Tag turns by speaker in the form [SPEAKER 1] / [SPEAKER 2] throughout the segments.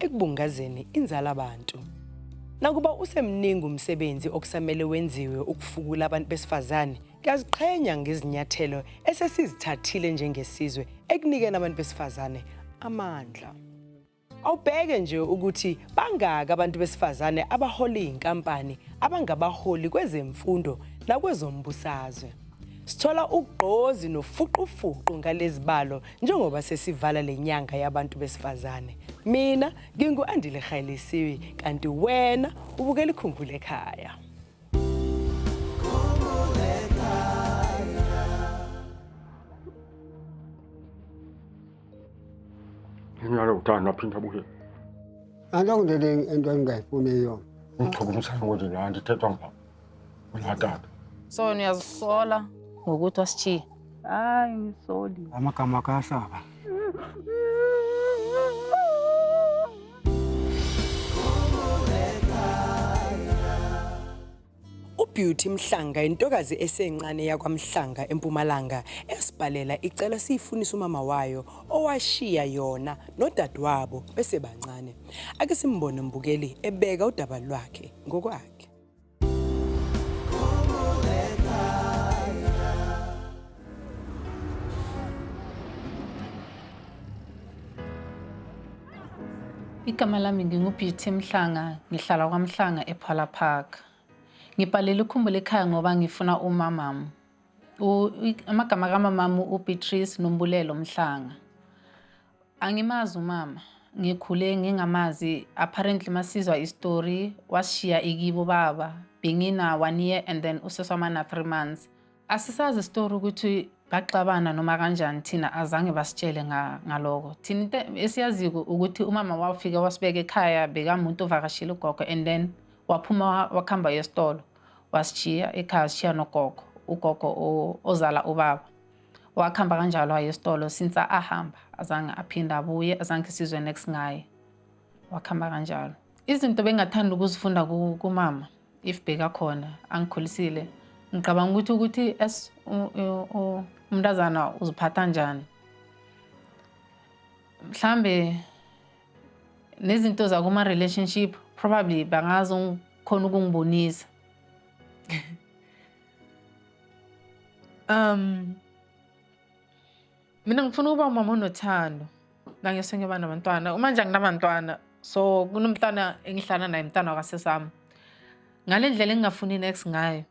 [SPEAKER 1] ekubungazeni inzala abantu. Nakuba usemningi umsebenzi okusamele wenziwe ukufukula abantu besifazane, ngiyaziqhenya ngezinyathelo esesizithathile njengesizwe ekunikeni abantu besifazane amandla. Awubheke nje ukuthi bangaki abantu besifazane abahola izinkampani abangabaholi kwezemfundo nakwezombusazwe. Sithola ugqozi nofuqufuqu ngalezibalo njengoba sesivala lenyanga yabantu besifazane. Mina ngingu-Andile Khailisiwi kanti wena ubukela ikhumbule ekhaya.
[SPEAKER 2] Nginyala uthanda aphinda abuye.
[SPEAKER 3] Angikulele into engingayifuni yona. Ngithokozisana
[SPEAKER 2] konje la ndithethwa ngibaba. Unatata. So
[SPEAKER 4] niyazisola ngokuthi wasishiya. Hayi ngisoli. Amagama kahlaba.
[SPEAKER 1] uBeauty Mhlanga intokazi esencane yakwaMhlanga eMpumalanga esibhalela icela siyifunisa umama wayo owashiya yona nodadewabo besebancane. Ake simbone mbukeli ebeka udaba lwakhe ngokwakhe.
[SPEAKER 4] Igama lami nginguBeauty Mhlanga, ngihlala kwaMhlanga ePhala Park. Ngibhalele ukhumbula ekhaya ngoba ngifuna umamam. Amagama kamamam uBeatrice Nombulelo Mhlanga. Angimazi umama. Ngikhule ngingamazi. Apparently masizwa istory washiya ikibo baba. Bengina one year and then useswamana three months. Asisazi istory ukuthi baxabana noma kanjani thina azange basitshele ngaloko thina into esiyaziko ukuthi umama wafika wasibeka ekhaya bekamuntu ovakashile ugogo and then waphuma wakuhamba yesitolo wasishiya ekhaya sishiya nogogo ugogo ozala ubaba wakhamba kanjalo aye esitolo since ahamba azange aphinde abuye azange sizwe next ngaye wakhamba kanjalo izinto bengathanda ukuzifunda kumama if bekakhona angikhulisile ngicabanga ukuthi ukuthi as umntazana uziphatha njani mhlambe nezinto zakuma-relationship probably bangazokhona ukungibonisa Um, mina ngifuna ukuba umama onothando la ngiyose ngiyoba nabantwana uma nje anginabantwana so kunomntwana engihlala naye mntwana wakasesami ngale ndlela engingafuni next ngayo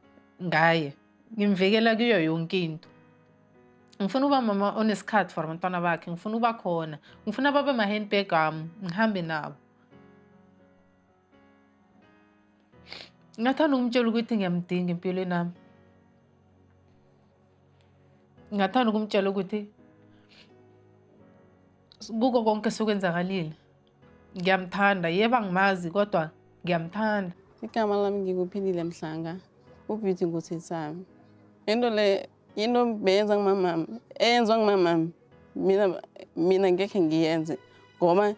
[SPEAKER 4] ngaye ngimvikela kuyo yonke into ngifuna uba mama onesikhathi for abantwana bakhe ngifuna uba khona ngifuna babe ma-handbag ami ngihambe nabo Ngathanda ukumtshela ukuthi ngiyamdinga empilweni yami. Ngathanda ukumtshela ukuthi kuko konke sokwenzakalile ngiyamthanda yeba ngimazi kodwa ngiyamthanda igama lami
[SPEAKER 5] ngikuphilile mhlanga ubeauty ngusisami into le into beyenza ngumamami eyenzwa ngumamami mina mina ngekhe ngiyenze ngoba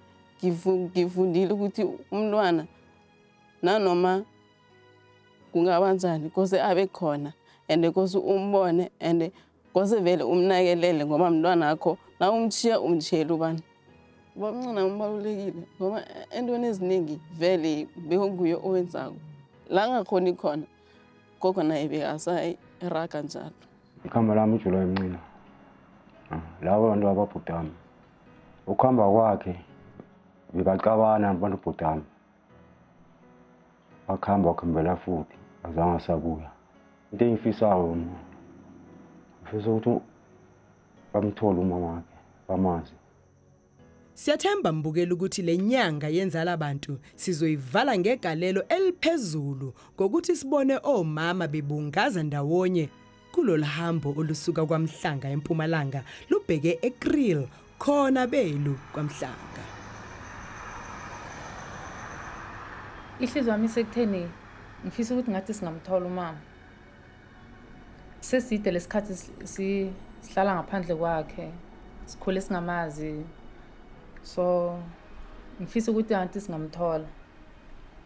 [SPEAKER 5] ngifundile ukuthi umntwana nanoma kungaba njani kose abe khona and kose umbone and kose vele umnakelele ngoba mntwana akho na umshiya umshiyela ubani ubamncina ubalulekile ngoba entweni eziningi vele bekunguye owenzako la ngakhoni khona gogo naye bekasayiraga njalo ikhamba lami ujula
[SPEAKER 2] emncina ah, laba bantu ababhudami ukuhamba kwakhe bebacabana abantu bhudami bakuhamba wakuhambela futhi azange asabuya into engifisayo mna ngifisa ukuthi bamthole umama wakhe bamazi
[SPEAKER 1] Siyathemba mbukeli ukuthi le nyanga yenzala bantu sizoyivala ngegalelo eliphezulu ngokuthi sibone omama bebungaza ndawonye kulolu hambo olusuka kwaMhlanga eMpumalanga lubheke eKriel khona belu kwaMhlanga.
[SPEAKER 4] Ihliziyo yami isekutheni ngifisa ukuthi ngathi singamthola umama. Seside lesikhathi sihlala ngaphandle kwakhe sikhule singamazi so ngifisa ukuthi anti singamthola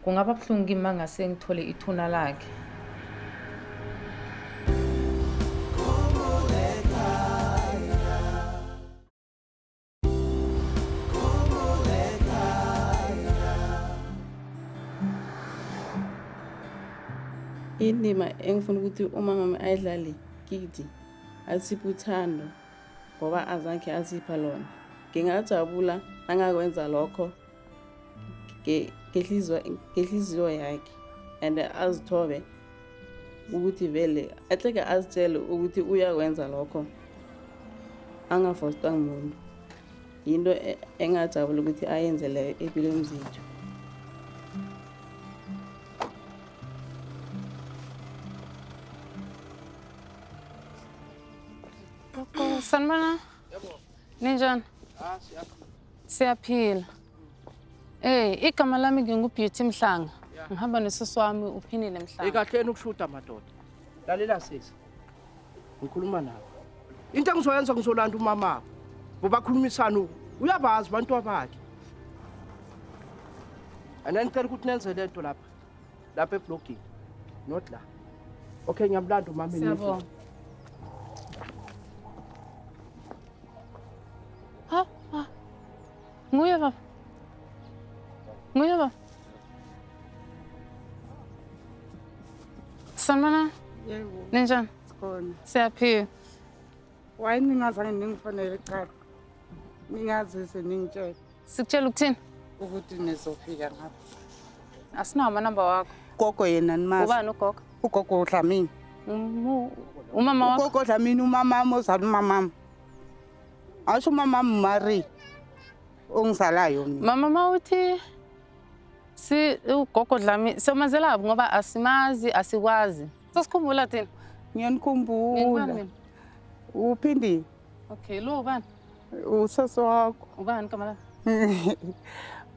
[SPEAKER 4] kungaba buhlungu kimi mangase ngithole ithuna lakhe
[SPEAKER 5] indima engifuna ukuthi umamami ayidlale kiti asiphe uthando ngoba azange asipha lona ngingajabula angakwenza lokho ngehliziyo yakhe and azithobe ukuthi vele ahleke azitshele ukuthi uyakwenza lokho angafostwa ngumuntu yinto e-, engajabula ukuthi ayenze leyo empilweni zethu
[SPEAKER 4] Sanibona. Ninjani? Ah, siyaphila. Siyaphila. Eh, igama lami nginguBeauty Mhlanga. Ngihamba nesisi wami uPhinile Mhlanga. Ikahleni ukushuta madoda.
[SPEAKER 6] Lalela sisi. Ngikhuluma nawe. Into engizoyenza ngizolanda umama. Ngoba khulumisana uyabazi abantu abakhe. Anani cela ukuthi nenze lento lapha. lapha eblogini not la okay ngiyamlanda umama Siyabonga. Ha, ha.
[SPEAKER 4] Nguye baba. Nguye baba. Sanibona, Yebo, ninjani?
[SPEAKER 7] sikhona. Siyaphila. Why ningazange ningifonele cha. Ningazise ningitshele. Sikutshela ukuthini?
[SPEAKER 4] Ukuthi
[SPEAKER 7] nizofika ngapha. Asinawo
[SPEAKER 4] amanamba wakho. Gogo yena nimazi.
[SPEAKER 7] Ubani ugogo? Ugogo
[SPEAKER 4] uDlamini.
[SPEAKER 7] Umu-
[SPEAKER 4] Umama wakho? Ugogo uDlamini umamami
[SPEAKER 7] ozala umamami. Asho umamami uMarie ongizalayo mina. Mama mawuthi
[SPEAKER 4] si ugogo Dlami somazelaphi ngoba asimazi asikwazi. Sosikhumbula thina. Ngiyanikhumbula.
[SPEAKER 7] Uphindile.
[SPEAKER 4] Okay, lo ubani? Usesi wakho. Ubani igama
[SPEAKER 7] lakho?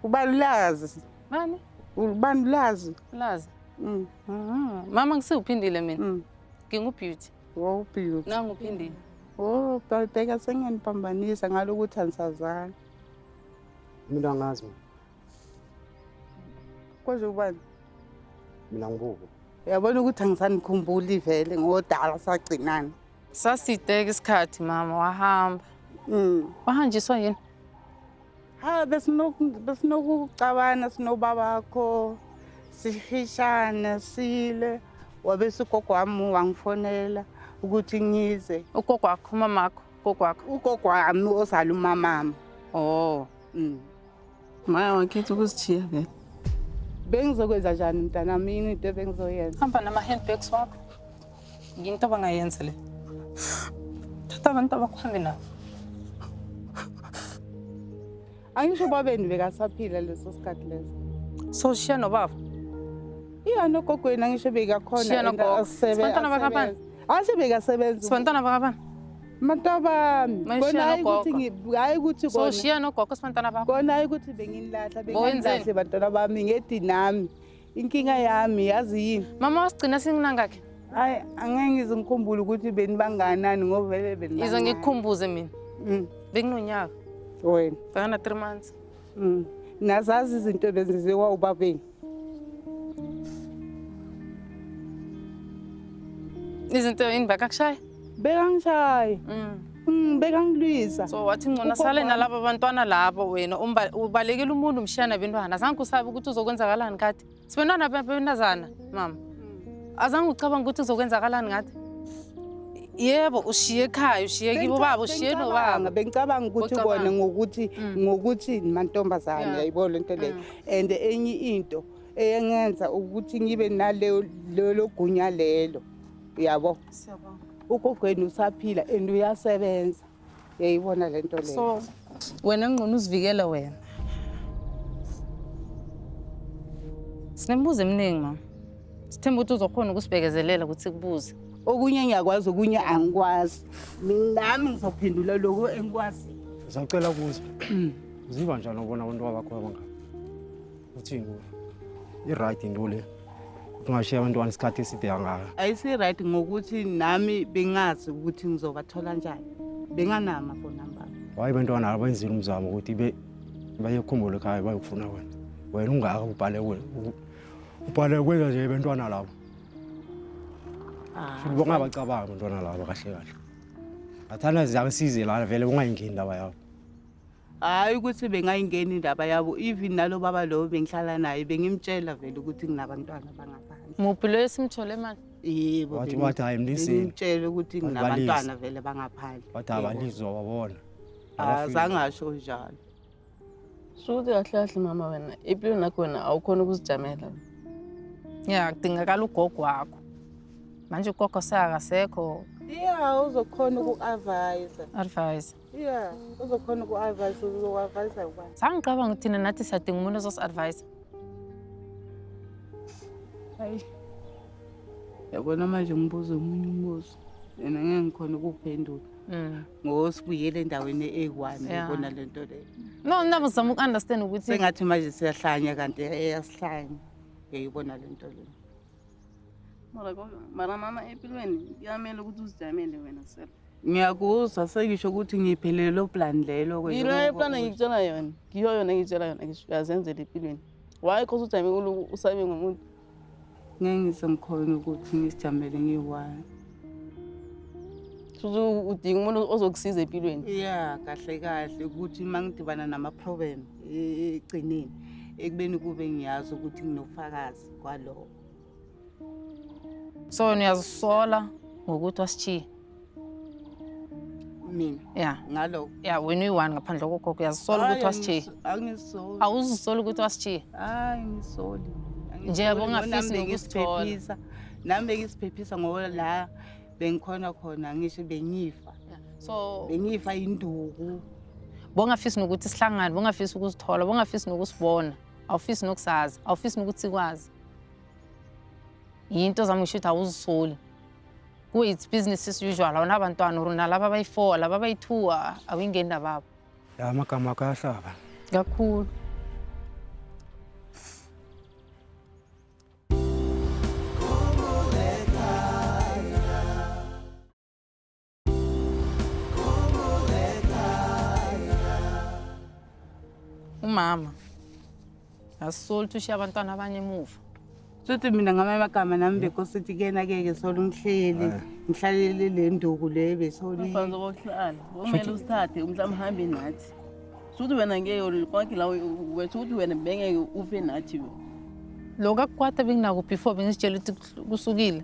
[SPEAKER 4] Ubalulazi.
[SPEAKER 7] Bani?
[SPEAKER 4] Ubalulazi.
[SPEAKER 7] Ulazi.
[SPEAKER 4] Mm. Mhm. Mama ngisiwuphindile mina. Mm. Ngingubeauty. Wow, beauty.
[SPEAKER 7] Nangu uphindile.
[SPEAKER 4] Oh,
[SPEAKER 7] babheka sengeniphambanisa ngalokuthi anisazani.
[SPEAKER 2] Mina angazi mina.
[SPEAKER 7] Kwaze ubani? Mina
[SPEAKER 2] ngibuko. Uyabona ukuthi
[SPEAKER 7] angisanikhumbuli vele ngodala sagcinana. Sasideke
[SPEAKER 4] isikhathi mama wahamba. Mm. Wahanjiswa yini? Ha
[SPEAKER 7] besinoku besinokucabana sinobaba wakho sihishane sile wabe sigogo wami wangifonela ukuthi ngize. Ugogo wakho mamakho,
[SPEAKER 4] ugogo wakho. Ugogo wami ozala
[SPEAKER 7] umamami. Oh.
[SPEAKER 4] Mm.
[SPEAKER 5] Maya wakhetha ukuzithiya vele. Bengizokwenza
[SPEAKER 7] njani mntanami yini into ebengizoyenza? Hamba nama-handbags
[SPEAKER 4] wakho. Yinto abangayenza le. Thatha abantu abakuhambe nabo.
[SPEAKER 7] Angisho ubabeni bekasaphila leso sikhathi leso. So shiya
[SPEAKER 4] nobaba. Iya
[SPEAKER 7] nogogweni angisho bekakhona Shiya nogogo. asebe.
[SPEAKER 4] Sibantwana bakaBani? asebenza. Angisho bekasebenza.
[SPEAKER 7] Sibantwana bakabani?
[SPEAKER 4] Matabami.
[SPEAKER 7] Manje Kona hayi nogogo.
[SPEAKER 4] ukuthi ngi- hayi ukuthi so
[SPEAKER 7] kona. shiya nogogo
[SPEAKER 4] sibantwana bakho Kona hayi ukuthi benginilahla
[SPEAKER 7] Bowenzeni? benginilahla bantwana
[SPEAKER 4] bami
[SPEAKER 7] ngedi nami. Inkinga yami yazi yini? mama wasigcina singinangakhe
[SPEAKER 4] Hayi angeke
[SPEAKER 7] ngizingikhumbule ukuthi benibanganani ngoba vele benibanganani. yize ngikukhumbuze mina
[SPEAKER 4] Mm, benginonyaka wena.
[SPEAKER 7] bekana three months
[SPEAKER 4] Mm. Nazazi
[SPEAKER 7] izinto lezi ziwa ubabeni.
[SPEAKER 4] izinto yini bekakushaye bekangishaye
[SPEAKER 7] mm. mm, bekangilwisa so wathi ngcona
[SPEAKER 4] sale nalaba bantwana labo wena ubalekile umuntu umshiya nabentwana azange usabe ukuthi uzokwenzakalani kade sibentwana benazana mama mm. azange ucabanga ukuthi uzokwenzakalani ngathi yebo ushiye ekhaya ushiye kibo baba ushiye nobaba bengicabanga ukuthi
[SPEAKER 7] kona ngokuthi ngokuthi mantombazane yayibona lento leyo and enye into eyengenza ukuthi ngibe nalelo gunya lelo uyabo
[SPEAKER 4] ugogweni
[SPEAKER 7] usaphila and uyasebenza yayibona le nto leyo wena
[SPEAKER 4] ngqono uzivikele wena sinemibuzo eminingi mama sithemba ukuthi uzokhona ukusibekezelela ukuthi kubuze okunye ngiyakwazi
[SPEAKER 7] okunye angikwazi nami ngizophendula lokho engikwazi sacela kuza
[SPEAKER 2] Uziva njani ubona abantu abakho abangaka? Uthini kuwe? I-right into le. Ungashiya abantwana isikhathi eside kangaka. ayisi-right ngokuthi
[SPEAKER 7] nami bengazi ukuthi ngizobathola njani benganama phone number Waye abantwana abenzile
[SPEAKER 2] umzamo ukuthi be bayekhumbule ekhaya bayokufuna wena. Wena ungaka ubhale wena. Ubhale kwenza nje abantwana labo. Futhi bongabacabanga abantwana labo kahle kahle. Ngathanda ziyangisize lana vele bongayingeni indaba yabo. hhayi
[SPEAKER 7] ukuthi bengayingeni indaba yabo even nalo baba lowo bengihlala naye bengimtshela vele ukuthi nginabantwana bangaphandle muphi
[SPEAKER 4] loyo esimthole mani yebo Wathi- bengi- wathi
[SPEAKER 7] hhayi, mlisile.
[SPEAKER 2] bengimtshele ukuthi Wathi
[SPEAKER 7] nginabantwana balise. vele bangaphandle wathi Yebo. abalizwa
[SPEAKER 2] wabona Ah, azange
[SPEAKER 7] asho njalo
[SPEAKER 5] Shuthi kahle kahle mama wena impilo nakho wena awukhona ukuzijamela.
[SPEAKER 4] ya kudingakala ugogo wakho manje ugogo sakasekho iya
[SPEAKER 7] uzokhona uku-avayisa advise
[SPEAKER 4] Yeah,
[SPEAKER 7] uzokhona uku-advise uzoku-advise ubani? Sangicabanga ukuthi thina nathi
[SPEAKER 4] siyadinga umuntu ozosi-advise.
[SPEAKER 7] Hayi. Yabona manje ngibuza omunye umbuzo. Yena ngeke ngikhona ukuphendula. Mm. Ngoba sibuyele endaweni e-1 yabona le nto leyo. No, nami ngizama
[SPEAKER 4] uku-understand ukuthi sengathi manje siyahlanya
[SPEAKER 7] kanti eyasihlanya. Yayibona le nto leyo. mara kodwa
[SPEAKER 5] mara mama empilweni kuyamele ukuthi uzijamele wena self ngiyakuzwa
[SPEAKER 7] sengisho ukuthi ngiphelele lo plan lelo ke yilo eplan ngikutshela
[SPEAKER 5] yona ngiyo yona ngitshela yona ngisho uyazenzela empilweni why cause ujame kuloko usabe ngomuntu ngeke
[SPEAKER 7] ngisemkhona ukuthi ngisijamele ngiyi-one
[SPEAKER 5] futhi udinga umuntu ozokusiza empilweni ya kahle
[SPEAKER 7] kahle ukuthi uma ngidibana nama-problem e-, e-, ekugcineni ekubeni kube ngiyazi ukuthi nginofakazi ngaphansi
[SPEAKER 4] kwaloko so wena uyazisola ngokuthi wasishiye
[SPEAKER 7] mina ya ngaloko
[SPEAKER 4] ya wena
[SPEAKER 7] uyi-one
[SPEAKER 4] ngaphandle kogogo uyazisola ukuthi wasishiye angisoli
[SPEAKER 7] awuzisoli ukuthi
[SPEAKER 4] wasishiye hayi ngisoli
[SPEAKER 7] Nje yabo
[SPEAKER 4] ungafisi nokusithola. nami
[SPEAKER 7] bengisiphephisa ngoba la bengikhona khona ngisho bengifa so
[SPEAKER 4] bengifa induku
[SPEAKER 7] bongafisi
[SPEAKER 4] nokuthi sihlangane bongafisi ukusithola bongafisi nokusibona awufisi nokusazi awufisi nokuthi ikwazi yinto zami ngisho ukuthi awuzisoli kuwe it's business as usual awunabantwana or nalaba abayi-four laba abayi-two awuyingeni nababo la amagama akho
[SPEAKER 2] ayahlaba kakhulu
[SPEAKER 4] Umama asisoli ukuthi ushiya abantwana abanye emuva. Sothi mina
[SPEAKER 7] ngamanye amagama nami bekose ukuthi kuyena keke sola umhleli ngihlalele le nduku le besoli. Mfazi wokuhlala,
[SPEAKER 5] kumele usithathe umhlawumbe uhambe nathi. Sothi wena ngeke konke la wethu ukuthi wena bengeke ufe nathi wena. Lokho
[SPEAKER 4] akukwata benginako before bengisitshela ukuthi kusukile.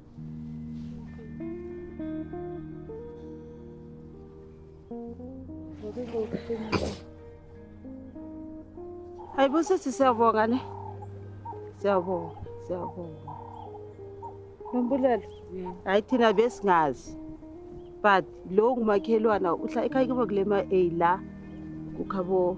[SPEAKER 7] hayibo sisi siyabonga ne siyabonga siyabonga nombulelo hayi thina besingazi but lowo ngumakhelwana uhla ekhaya kibo kule ma-a la kukhabo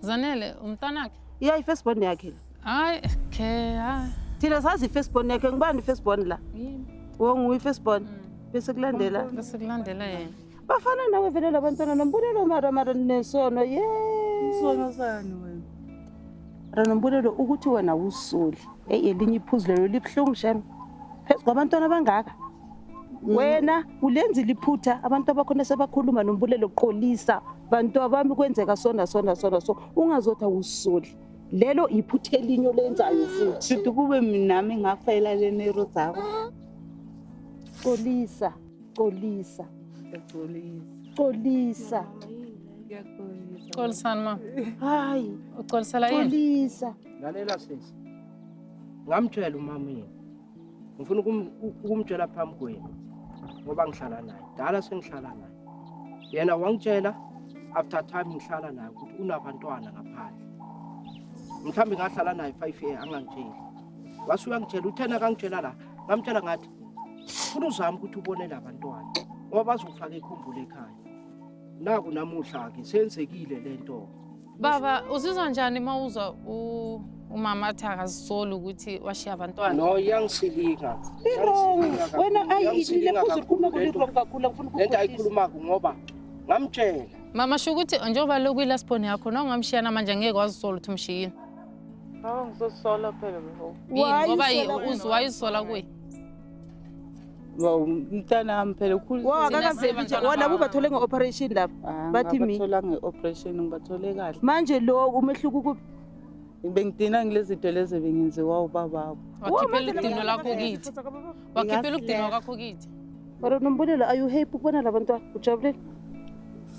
[SPEAKER 7] Zanele
[SPEAKER 4] umntana wakhe? Yeah, i-first born yakhe.
[SPEAKER 7] Hayi, okay,
[SPEAKER 4] hayi. Thina sazi i-first
[SPEAKER 7] born yakhe. Ngubani i-first born la? Yini? Wongu
[SPEAKER 4] i-first born.
[SPEAKER 7] Mm. Bese kulandela. Bese kulandela
[SPEAKER 4] yena. Bafana nawe vele
[SPEAKER 7] labantwana nombulelo mara mara nesono. Yeah. Isono
[SPEAKER 5] sani wena?
[SPEAKER 7] Ranombulelo ukuthi wena wusuli. Eyi elinye iphuzu lelo libuhlungu shem. Phezu kwabantwana abangaka. Mm. wena ulenzile iphutha abantu abakhona sebakhuluma nombulelo qolisa bantu abami kwenzeka sona sona sona so ungazothi awusoli lelo iphutha elinye olenzayo futhi shuthi kube minami ngafayela lenero zakho qolisa qolisa qolisa
[SPEAKER 4] xolisani ma hayi
[SPEAKER 7] uxolisela yini
[SPEAKER 4] qolisa lalela
[SPEAKER 6] sisi ngamtshela umama yini ngifuna ukumtshela phambi kwenu ngoba ngihlala naye dala sengihlala naye yena wangitshela after time ngihlala naye ukuthi unabantwana ngaphandle mhlawumbe ngahlala naye five year angangitsheli wase uyangitshela uthena kangitshela la ngamtshela ngathi funa uzame ukuthi ubone la bantwana ngoba bazofaka ikhumbula ekhaya naku namuhla-ke senzekile le nto-ke Baba
[SPEAKER 4] uzizwa njani uma uzwa u- umama athi akazisoli ukuthi washiya abantwana? No, iyangisilinga.
[SPEAKER 6] Irong. Iyangisilinga
[SPEAKER 7] Wena kakhulu. ayi Iyangisilinga ilile futhi kakhulu ukhuluma lento. kulirong kakhulu angifuni Lento ukukhohlisa. ayikhulumako
[SPEAKER 6] ngoba ngamtshela. Mama sho ukuthi
[SPEAKER 4] njengoba lokhu ilast born yakho nawe ungamshiya namanje angeke wazisola ukuthi umshiyile. Hawu
[SPEAKER 5] ngizosola phela before. Yini Why ngoba usola wena?
[SPEAKER 4] uzi wayisola kuye?
[SPEAKER 5] mntanami phela ukhulwona
[SPEAKER 7] bubathole nge-operation lapha ah, bathi mithola nge-operation
[SPEAKER 5] ngibathole kahle manje lo umehluko
[SPEAKER 7] ukuphi bengidina
[SPEAKER 5] ngile zinto lezi bengenziwa ubababo wakhiphela udino
[SPEAKER 4] lakho kithi wakhiphela udino kwakho kithi mara nombulelo
[SPEAKER 7] are you happy ukubona la bantwana ujabulile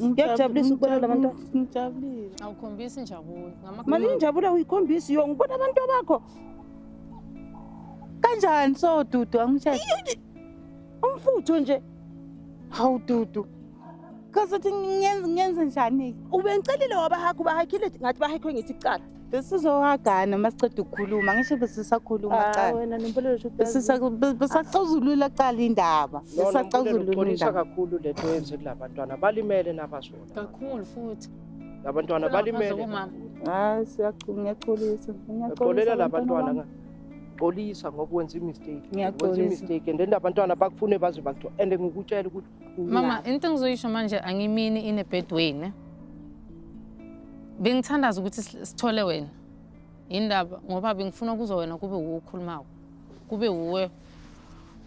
[SPEAKER 7] ngiyakujabulisa ukubona la bantwana ngijabulile awukhombisi
[SPEAKER 4] injabulo mali injabulo
[SPEAKER 7] awuyikhombisi yo ngibona abantu bakho
[SPEAKER 5] Kanjani so Dudu angisheshe. Umfutho
[SPEAKER 7] nje. Hawu
[SPEAKER 5] Dudu. Kaze uthi ngenze ngenze njani? Ubengicelile wabahaga
[SPEAKER 7] ubahagile ngathi bahekwe ngithi kucala. Besizohagana
[SPEAKER 5] masiqeda ukukhuluma ngisho besisakhuluma Ah, cala. wena
[SPEAKER 7] nempelelo sho Besisa besaxazulula
[SPEAKER 5] cala indaba. Besaxazulula Uxolisa
[SPEAKER 6] indaba. kakhulu lento yenze kulabantwana balimele nabazona. kakhulu futhi
[SPEAKER 4] labantwana
[SPEAKER 6] balimele hayi
[SPEAKER 5] siyaxolisa ngiyaxolisa
[SPEAKER 6] labantwana xolisa ngoba wenza imistake wenza imistake and then abantwana bakufune baze bakuthiwa and ngikutshela ukuthi mama into
[SPEAKER 4] engizoyisho manje angimini inebed wayne bengithandaza ukuthi sithole wena yindaba ngoba bengifuna kuzo wena kube wuwe okhulumako kube wuwe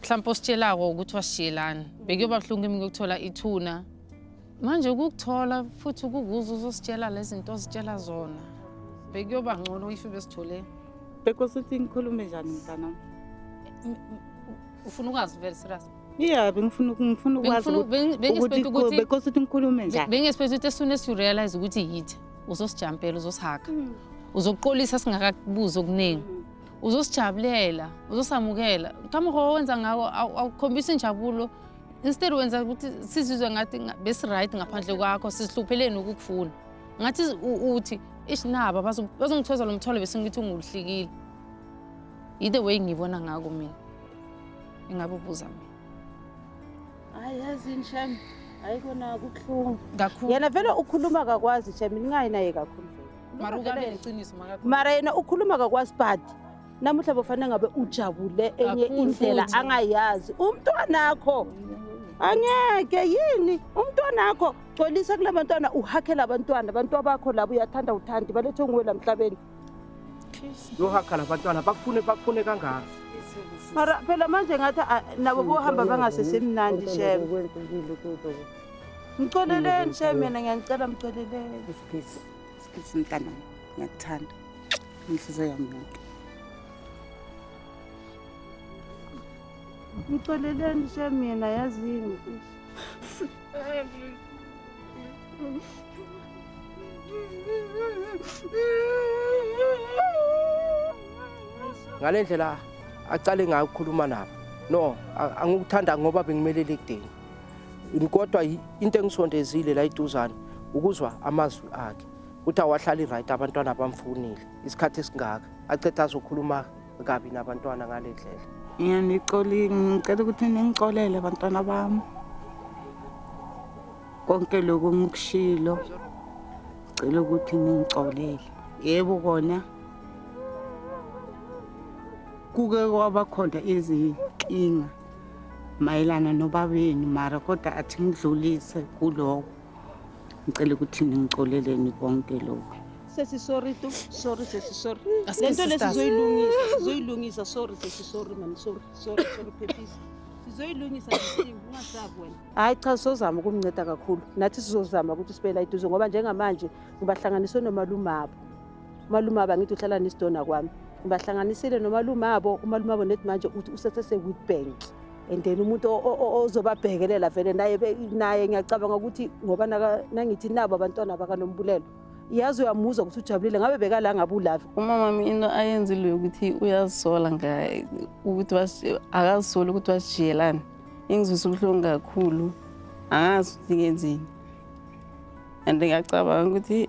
[SPEAKER 4] mhlawumpe ositshelako ukuthi wasishiyelani bekuyoba buhlungu kimi kuyokuthola ithuna manje ukukuthola futhi ukukuza uzositshela lezi zinto ozitshela zona bekuyoba ngcono if besithole bekosi uthi
[SPEAKER 5] ngikhulume njani mntanami
[SPEAKER 4] ufuna ukwazi vele serious yeah
[SPEAKER 5] bengifuna ngifuna ukwazi bengisiphethe ukuthi bekosi uthi ngikhulume njani bengisiphethe ukuthi as soon as you
[SPEAKER 4] realize ukuthi yithi uzosijampela uzosihaga hmm. uzokuqolisa singakakubuzi okuningi hmm. uzosijabulela uzosamukela kamuho owenza ngawo awukhombisa injabulo instead wenza ukuthi sizizwe ngathi besiright ngaphandle kwakho sizihlupheleni ukukufuna ngathi uthi ish naba bazongithoza lo mthwalo besingithi unguluhlikile yithe way ngibona ngako mina ingabe ubuza mina hayi yazi
[SPEAKER 7] nshem hayi kona kubuhlungu kakhulu yena vele
[SPEAKER 4] ukhuluma
[SPEAKER 7] kakwazi shem ningayi naye kakhulu
[SPEAKER 4] mara yena ukhuluma
[SPEAKER 7] kakwazi bhadi namuhla bofanele ngabe ujabule enye indlela angayazi umntwanakho angeke yini umntwanakho gcolisa kula bantwana uhakhela abantwana abantu abakho labo uyathanda uthandi balethwe nguwe la mhlabeni
[SPEAKER 6] yohakhala abantwana bakufune bakufune kangaka mara
[SPEAKER 7] phela manje ngathi ah, nabo bohamba bangasesemnandi shem mcoleleni shem yena ngiyanicela mcoleleni Skisi
[SPEAKER 5] mntana ngiyakuthanda. Inhliziyo yami yonke.
[SPEAKER 7] Ngixoleleni nje mina yazini.
[SPEAKER 6] Ngale ndlela acale ngayo ukukhuluma nabo. No, angikuthanda ngoba bengimelele ekudeni. kodwa into engisondezile la iduzane ukuzwa amazwi akhe ukuthi awahlali right abantwana abamfunile isikhathi esingaka acethe azokhuluma kabi nabantwana ngale ndlela yena nicoli
[SPEAKER 5] ngicela ukuthi ningicolele abantwana bami konke lokhu ngikushilo ngicela ukuthi ningicolele yebo kona kuke kwaba khona izinkinga mayelana nobabenu mara kodwa athi ngidlulise kuloko ngicela ukuthi ningicoleleni konke lokho sesi sorry tu
[SPEAKER 7] sorry sesi sorry Aske lento lesi sisters. sizoyilungisa sizoyilungisa sorry sesi sorry mani sorry sorry sorry phephisa sizoyilungisa sisi ungasabi wena hayi cha sizozama ukumnceda kakhulu nathi sizozama ukuthi sibe la eduze ngoba njengamanje ngibahlanganiswe nomalumabo umalume aba ngithi uhlala nesidona kwami ngibahlanganisile nomalume abo umalume abo nethi manje uthi usesese-week bank and then umuntu ozobabhekelela vele naye naye ngiyacabanga ukuthi ngoba nangithi nabo abantwana bakanombulelo yazi uyamuzwa ukuthi ujabulile ngabe bekala ngabe ulave umamami into
[SPEAKER 5] ayenzile yokuthi uyazisola ngaye ukuthi akazisoli ukuthi wasijiyelani ingizwisa ubuhlungu kakhulu angazi ukuthi ngenzeni and ngiyacabanga ukuthi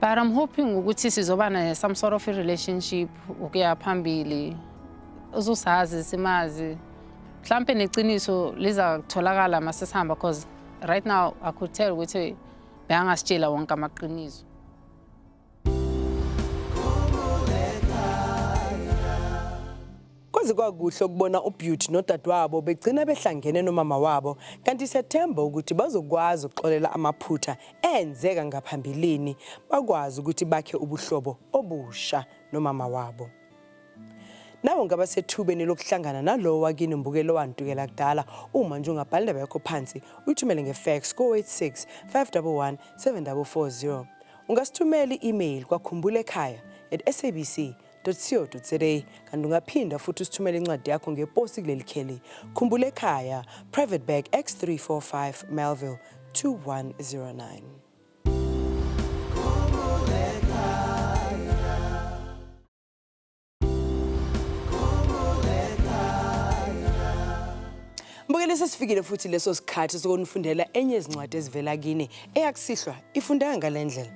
[SPEAKER 4] But I'm hoping ukuthi sizoba naye some sort of a relationship ukuya phambili. Uzosazi simazi. Mhlampe neqiniso liza kutholakala masesihamba because right now I could tell ukuthi beyangasitshela wonke amaqiniso.
[SPEAKER 1] Kwaze kwakuhle ukubona uBeauty nodadewabo begcina behlangene nomama wabo kanti siyathemba ukuthi bazokwazi ukuxolela amaphutha enzeka ngaphambilini bakwazi ukuthi bakhe ubuhlobo obusha nomama wabo. Nawe ngaba sethubeni lokuhlangana nalowo wakini mbukeli owantukela kudala uma nje ungabhala indaba yakho phansi uyithumele ngefax ko-86 511 7440 ungasithumela i-email kwakhumbula ekhaya at sabc www.co.za kanti ungaphinda futhi usithumele incwadi yakho ngeposi kuleli kheli khumbula ekhaya private bag x345 melville 2109 Mbukeli sesifikile futhi leso sikhathi sokunifundela enye izincwadi ezivela kini eyakusihlwa ifundeka ngalendlela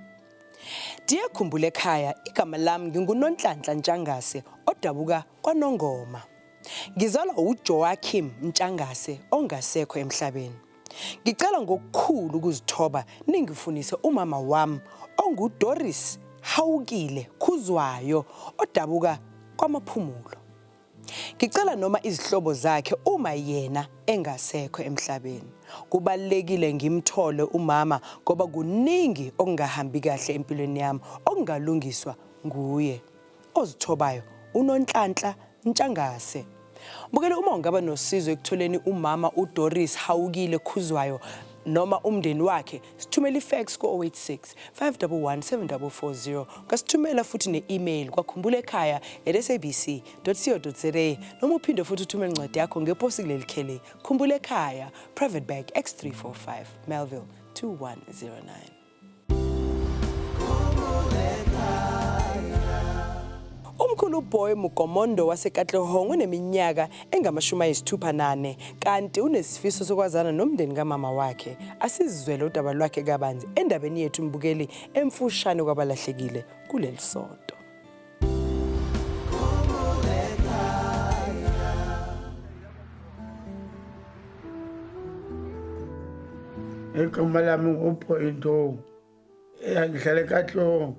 [SPEAKER 1] Dear Khumbula ekhaya, igama lami nginguNonhlanhla Ntshangase odabuka kwaNongoma. Ngizalwa uJoachim Ntshangase ongasekho emhlabeni. Ngicela ngokukhulu ukuzithoba ningifunise umama wami onguDoris Hawukile Khuzwayo odabuka kwaMaphumulo. Ngicela noma izihlobo zakhe uma yena engasekho emhlabeni. Kubalekile ngimthole umama ngoba kuningi okungahambi kahle empilweni yami okungalungiswa nguye. Ozithobayo unonhlanhla ntshangase. Bukele uma ungaba nosizo ekutholeni umama uDoris Hawukile Khuzwayo noma umndeni wakhe sithumela ifax ku-086 511 7440 ungasithumela futhi ne-email kwakhumbula ekhaya at sabc co za noma uphinde futhi uthumele incwadi yakho ngeposi kuleli kheli khumbula ekhaya private bag x345 melville 2109 Umkhulu Boy Mugomondo wasekatlehong uneminyaka engamashumi ayisithupha nane kanti unesifiso sokwazana nomndeni kamama wakhe asizizwele udaba lwakhe kabanzi endabeni yethu mbukeli emfushane kwabalahlekile kuleli sonto
[SPEAKER 8] igama lami nguphoyintowu ya ngihlale katlong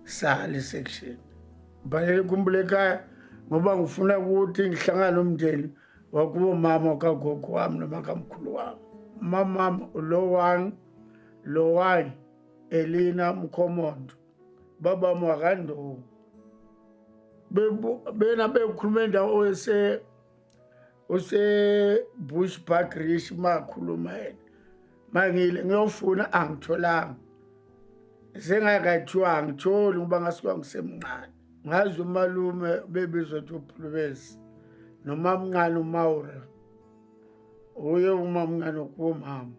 [SPEAKER 8] sale section ngibhalele kumbule ekhaya ngoba ngifuna ukuthi ngihlangane umndeni wakubo mama kagogo wami noma kamkhulu wami mamama lowani lowani elina mkhomondo babam wakandongo bena bekhuluma endawo ese usebush park rish makhuluma yena mangile ngiyofuna angitholanga sengakathiwa angitholi ngoba ngasuka ngisemncane ngazi umalume bebizwa ukuthi uphulubezi nomamncane umawura uye umamncane kuwomama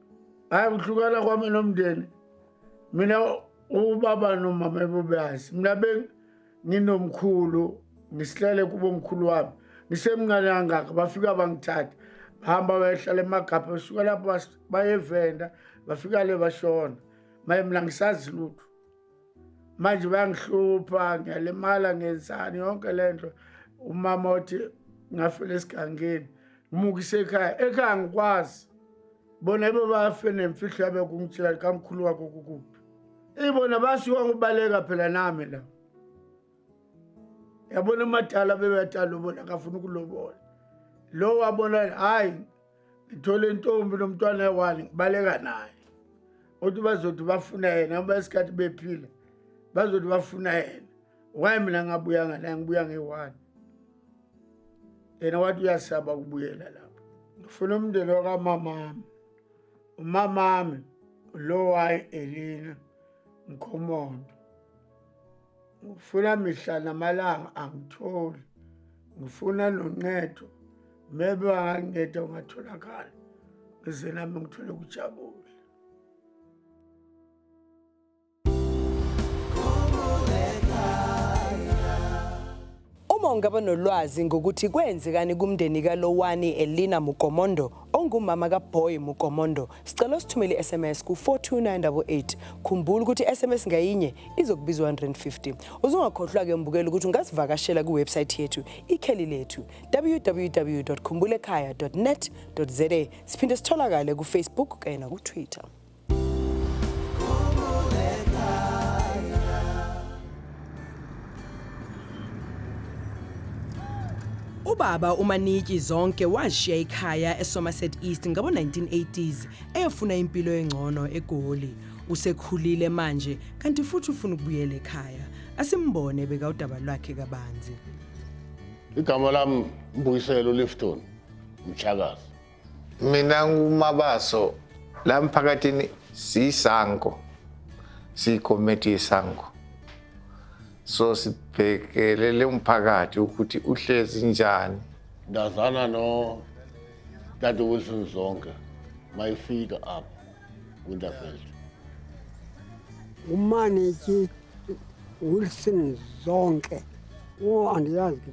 [SPEAKER 8] hayi kuhlukana kwami nomndeni mina ubaba nomama ebobeyazi mina nginomkhulu ngisihlale kubo mkhulu wami ngisemncane kangaka bafika bangithatha bahamba bayehlala emagabha besuka lapho bayevenda bafika le bashona maye mina ngisazi lutho manje bayangihlupha ngiyalimala ngenzani yonke le nto umama othi ngafela esigangeni ngimukise ekhaya ekhaya ngikwazi bona ibe bafe nemfihlo yabe kungitshela likamkhulu wakho kukuphi Ibona basiwa ngibaleka phela nami la. Yabona amadala bebeyatala ubona akafuna ukulobola. Lo wabona hayi ngithole intombi nomntwana ewali ngibaleka naye. Uthi bazothi bafuna yena ngoba isikhathi bephila. Bazothi bafuna yena. Why mina ngabuya ngala ngibuya ngewani. Yena wathi uyasaba ukubuyela lapho. Ngifuna umndeni wakamama wami. umamami lowayi elina mkhomondo ngifuna mihla namalanga angitholi ngifuna noncedo maybe anganceda ungatholakala ngize nami ngithole ukujabula
[SPEAKER 1] Uma ungaba nolwazi ngokuthi kwenzekani kumndeni kaLowani Elina Mukomondo ongumama kaBoy Mukomondo, sicela usithumele i-SMS ku-42988. Khumbula ukuthi i-SMS ngayinye izokubiza 150. Uzungakhohlwa-ke mbukela ukuthi ungasivakashela kwiwebsayithi yethu ikheli lethu www.khumbulekhaya.net.za. Siphinde sitholakale kufacebook kanye nakutwitter. Ubaba uManiki Zonke washiya ikhaya eSomerset East ngabo-1980s eyofuna impilo engcono eGoli. Usekhulile manje kanti futhi ufuna ukubuyela ekhaya. Asimbone beka udaba lwakhe kabanzi.
[SPEAKER 9] Igama lami Mbuyiselo Lifton Mtshakazi. mina
[SPEAKER 10] ngumabaso la mphakathini siyisango siyikomiti yesango so sibhekelele umphakathi ukuthi uhlezi njani ndazana no
[SPEAKER 9] tata wilson zonke mayifika apho winterfeld
[SPEAKER 3] umaneki wilson zonke o andiyazi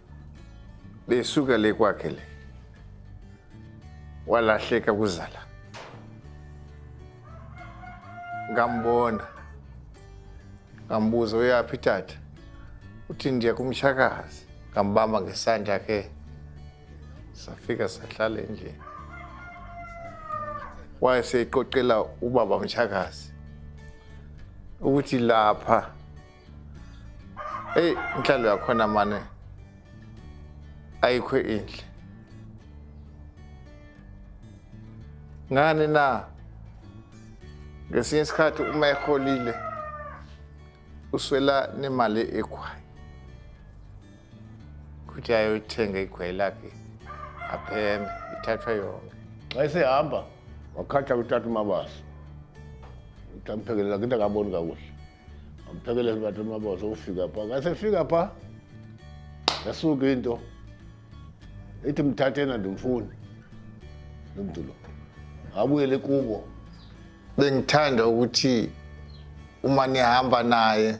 [SPEAKER 10] besuka le kwakhe le walahleka kuzala ngambona ngambuza uyaphi tata uthi ndiya kumshakazi ngambamba ngesandla ke safika sahlala endlini wayeseyiqoqela ubaba mshakazi ukuthi lapha eyi inhlalo yakhona mane ayikho inhle ngani na ngesinye isikhathi uma eholile uswela nemali ekhwayi ukuthi ayothenga igwayi lakhe apheme ithathwa yonke xa esehamba
[SPEAKER 9] wakhatha kuthatha umabasa ukuthi amphekelela kinte akaboni kakuhle Amphekelele bathi umaboza ufika pha. Ngase fika pha. Yasuka into. Ithi mthathena ndimfuni. Lomntu lo. Abuyele kubo. Bengithanda
[SPEAKER 10] ukuthi uma nihamba naye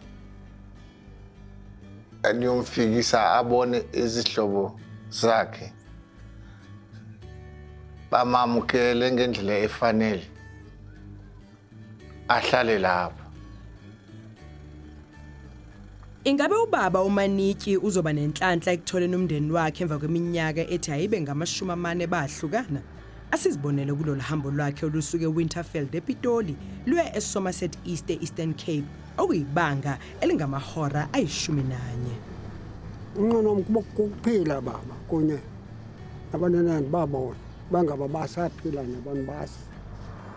[SPEAKER 10] aniyomfikisa abone izihlobo zakhe bamamukele ngendlela efanele ahlale lapho
[SPEAKER 1] Ingabe ubaba uManiki uzoba nenhlanhla ekutholeni umndeni wakhe emva kweminyaka ethi ayibe ngamashumi amane bahlukana? Asizibonele kulolu hambo lwakhe olusuke Winterfeld ePitoli luye eSomerset East eEastern Cape okuyibanga elingamahora ayishumi nanye.
[SPEAKER 3] Unqono wokuphila baba kunye nabanenani babona bangaba basaphila nabantu basi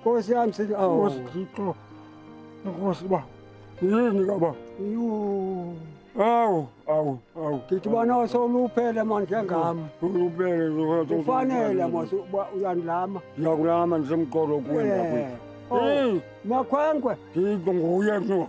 [SPEAKER 3] Nkosi yami sithi awu. Nkosi Thixo. Nkosi ba. Yini kaba? Yuu. Awu, awu, awu. Ngithi bona soluphele manje ngami. Uluphele zokuthi Ufanele mos uyandilama. Ngiyakulama ngisemqolo kuwe Eh. ndakwethu. Oh, Hey, Makhwenkwe. Thixo nguye no.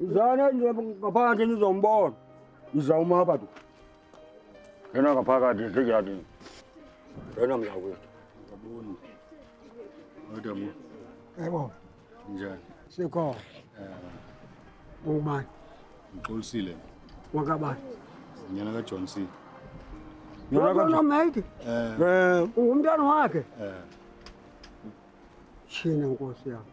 [SPEAKER 3] Izana nje ngaphandle nizombona. Iza uma hapa tu. Yena ngaphakathi siyadi. Yena mzakwethu. Yabona. Kodwa mu. Yebo. Njani? Sikho. Eh. Ungubani? Ngixolisile. Wakabani? Nyana ka
[SPEAKER 11] John C. Nyana
[SPEAKER 3] ka John C. Eh. Eh. Ungumntana wakhe. Eh. China nkosi yami.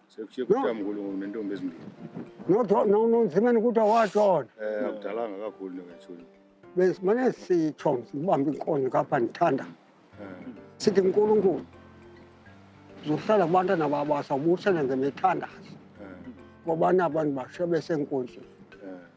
[SPEAKER 11] Sekushiye kuthiwa mkhulu ngentombi ezimbili. Nodwa nonzimeni ukuthi
[SPEAKER 3] awashona. Eh akudalanga kakhulu
[SPEAKER 11] nokashona. Besimane
[SPEAKER 3] sitho ngibamba inkonzo kapha ngithanda. Eh. Sithi uNkulunkulu zohlala kubantwana babo asawubusele ngemithandazo. Eh. Ngoba nabantu bashe besenkonzweni.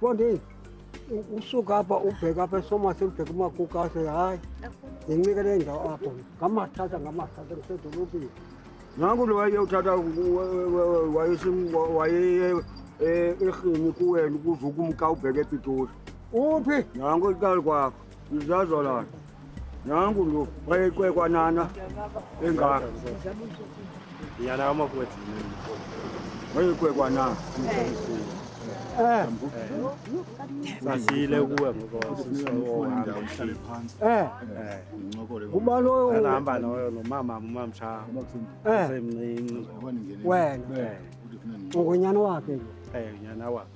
[SPEAKER 3] Bonde usuka apha ubheka apha esomase ubheka umakuka ase hayi ngincike le ndawo apho ngamathatha ngamathatha ngisedolobheni nangu lo wayeyothatha waye erhini kuwena ukuze ukumka ubheke epitoli uphi nangu ikali kwakho Uzazola. Nangu lo wayecwekwa nana engaka.
[SPEAKER 2] Yana ama kwethi. Wayecwekwa nana. Eh. Sasile kuwe ngokuhamba umhlale phansi. Eh. Ngincokole.
[SPEAKER 3] Kuba loyo uhamba loyo nomama
[SPEAKER 2] umama cha. Eh. Semncinci.
[SPEAKER 3] Wena. Ungonyana wakhe. Eh, nyana wakhe.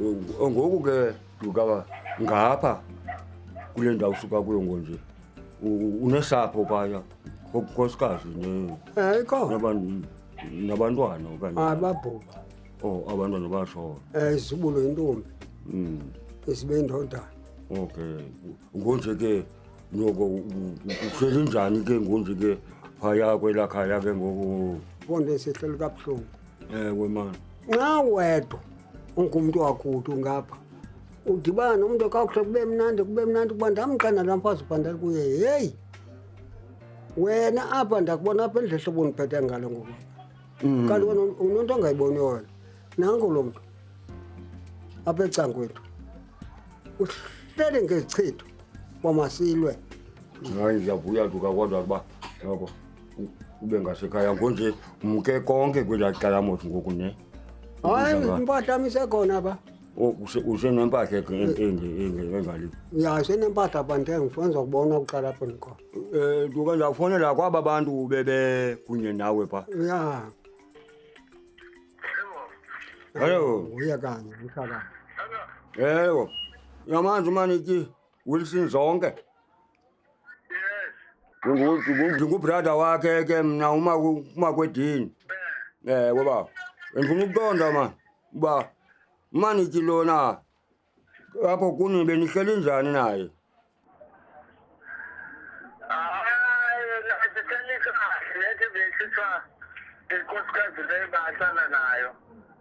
[SPEAKER 3] Eh, ngoku ke duka ngapha kule ndawo usuka kuyo ngonje u- unesapho phaya konkosikazi ne- Eh, ikhona naban- nabantwana okanye ababhubha oh abantwana bashona um izibulo intombi Mm, isibe indodana okay ngonje ke noko u- u- uhleli njani ke ngonje ke phaya kwelaa khaya ke ngoku konde sehlelo kabuhlungu ewe mani nxa wedwa ungumntu wakuthi ungapha udibana nomntu kakuhle kube mnandi kube mnandi kuba ndamqana la mfazi ubhandali kuye heyi wena apha ndakubona apha endlela hlobo ndiphethe ngalo ngoku Mm. kanti wena unonto ongayiboni wona nanko lo mntu apha ecangwethu uhlele ngezichitho kwamasilwe hayi ndiyavuya duka kodwa kuba yabo ube ngasekhaya ngonje umke konke kwelaa cala mos ngoku ne hayi Uza ka- impahla yam isekhona ba O, use- usenempahla ke en- enge- enge- engaliyo ya senempahla bandeng fenza kubona kuqala apho ndikhona um duke ndawufonela kwaba bantu bebe kunye nawe pha ya Hello. uye kanye mhlakani ewo yamanzi umanityi Wilson Zonke ndingubrada wakhe ke mna umakwedini eh ngoba ndifuna ukuqonda ma uba maniki lona apho kuni benihleli njani naye
[SPEAKER 12] inkosikazi leyo bahlala nayo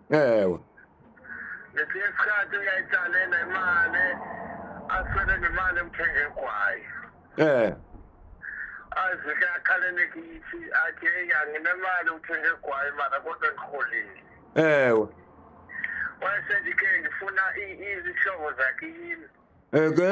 [SPEAKER 12] ewe ngesinye isikhathi uyayitsale nemali aswele nemali emthenge egwayi eh azike akhalele kithi athi eyi anginemali uthenge egwayi mara kodwa ngiholile ewe wayesendike ngifuna izihlobo zakhe yini eke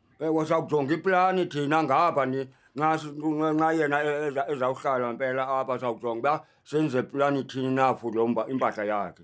[SPEAKER 12] Ewe
[SPEAKER 3] sawujonga iplani thina ngapha ni nxa si- nxa- nxa yena e- eza- ezawuhlala mpela apha sawujonga uba senze plani thini na for lo mba- impahla yakhe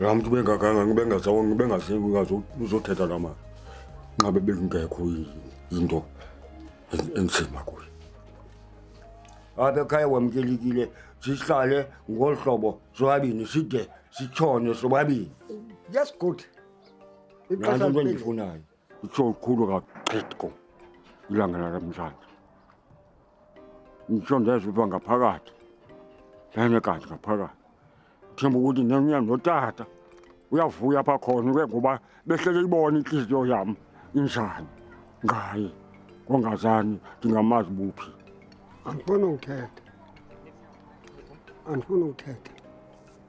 [SPEAKER 3] la mntu bengaganga ngibengasebengaseku ngaze uzothetha la mali nqabe bekungekho into enzima kuye apha ekhaya wamkelekile sihlale ngolu hlobo sobabini side sitshone sobabini yes good
[SPEAKER 13] nanto
[SPEAKER 3] into endifunayo Kukhulu kakhulu ilanga lakamhlanje. Ngisho ndezwe uba ngaphakathi ngene kanti ngaphakathi themba ukuthi nenya notata uyavuya apha khona ke ngoba behlele ibona inhliziyo yami injani ngaye kongazani ndingamazi buphi andifuni
[SPEAKER 13] ukuthetha andifuni ukuthetha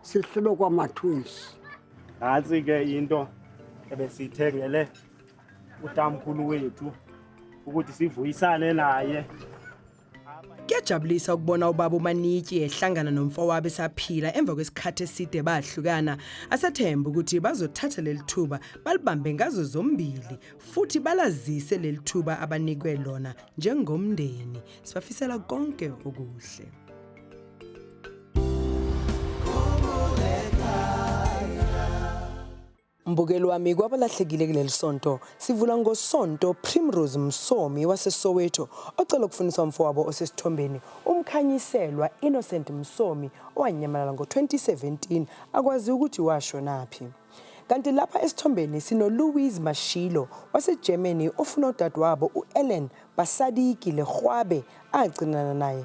[SPEAKER 13] sihlulwe kwamatwins nantsi
[SPEAKER 2] ke into ebesiyithengele utamkhulu wethu ukuthi sivuyisane naye kuyajabulisa
[SPEAKER 1] ukubona ubaba umanityi ehlangana nomfowabo esaphila emva kwesikhathi eside bahlukana asathemba ukuthi bazothatha leli thuba balibambe ngazo zombili futhi balazise leli thuba abanikwe lona njengomndeni sibafisela konke okuhle Mbukeli wami kwabalahlekile kuleli sonto sivula ngosonto Primrose Msomi waseSoweto ocela ukufundisa umfowabo osesithombeni umkhanyiselwa Innocent Msomi owanyamalala ngo-2017 akwazi ukuthi washonaphi kanti lapha esithombeni sinoLouise Mashilo waseGermany ofuna udadewabo u-Ellen Basadiki Lerhwabe agcinana naye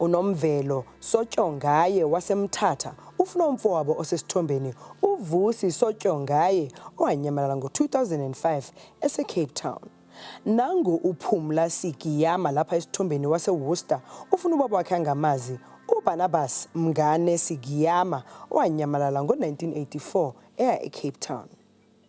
[SPEAKER 1] unomvelo sotyongaye wasemthatha ufuna umfowabo osesithombeni uvusi sotyongaye owanyamalala ngo-2005 esecape town nangu uphumla sigiyama lapha esithombeni waseworcester ufuna ubaba wakhe angamazi ubarnabas mngane sigiyama owanyamalala ngo-1984 eya ecape town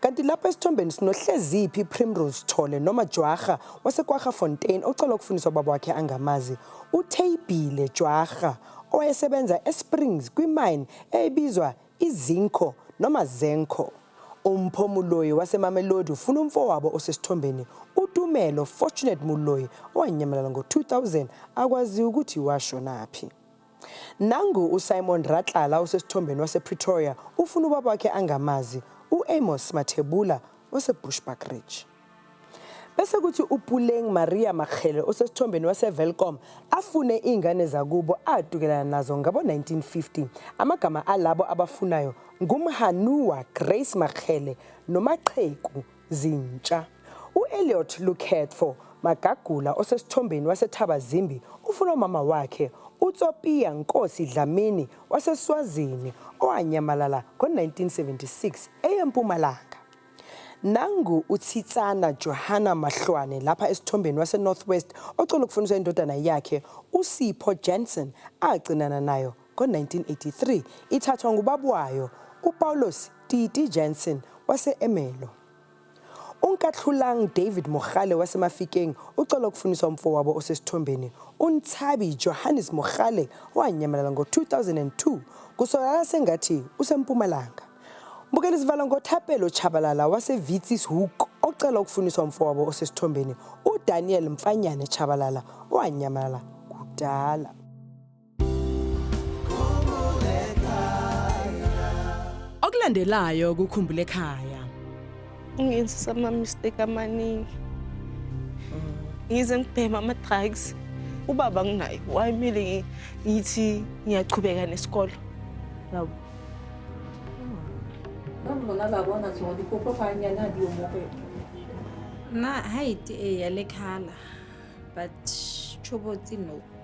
[SPEAKER 1] Kanti lapha esithombeni sinohleziphi Primrose Thole noma Jwarha waseKwarha Fontaine ocela ukufundisa ubaba wakhe angamazi uTheyibhile Jwarha owayesebenza eSprings kwimine eyayibizwa iZinco noma Zenco. Umpho Muloyi waseMamelodi ufuna umfowabo osesithombeni uTumelo Fortunate Muloyi owanyamalala ngo-2000 akwaziwa ukuthi washonaphi. Nangu uSimon Ratlala osesithombeni wasePretoria ufuna ubaba wakhe angamazi, u-Amos Mathebula oseBushbuck Ridge. Bese kuthi uPuleng Maria Makgele osesithombeni waseVelkom afune iy'ngane zakubo adukelana nazo ngabo-1950. Amagama alabo abafunayo nguMhanua Grace Makgele noMaqheku zintsha. U-Elliot Lukhetfo Magagula osesithombeni waseThabazimbi ufuna umama wakhe uTsopiya Nkosi Dlamini waseSwazini owanyamalala ngo-1976 eyeMpumalanga. Nangu uThitsana Johanna Mahlwane lapha esithombeni waseNorth West ocela ukufuniswa indodana yakhe uSipho Jensen agcinana nayo Ngo-1983 ithathwa ngubaba wayo uPaulos Titi Jansen wase-Ermelo. UNkathlulang David Mogale waseMafikeng ucela ukufuniswa umfowabo osesithombeni uNtshabi Johannes Mogale owanyamalala ngo-2002 kusolakala sengathi useMpumalanga. Bukela isivala ngoThapelo Chabalala waseVitsis Hoek ocela ukufuniswa umfowabo osesithombeni uDaniel Mfanyane Chabalala owanyamalala kudala. Okulandelayo kukhumbule ekhaya.
[SPEAKER 5] Ngenzisa ama-mistake amaningi. Ngize ngibhema ama-drugs. Ubaba nginaye wayemele ngi- ngithi ngiyachubeka nesikole.
[SPEAKER 14] Yabo. Na height e ya lekhala but chobotsi no.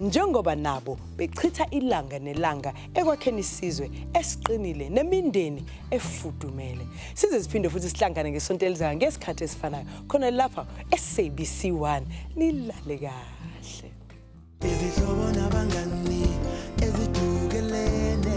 [SPEAKER 1] njengoba nabo bechitha ilanga nelanga ekwakheni isizwe esiqinile nemindeni efudumele size siphinde futhi sihlangane ngesonto elizayo ngesikhathi esifanayo khona lapha e-sabc 1 nilale kahle izihlobo
[SPEAKER 15] nabangani ezidukelene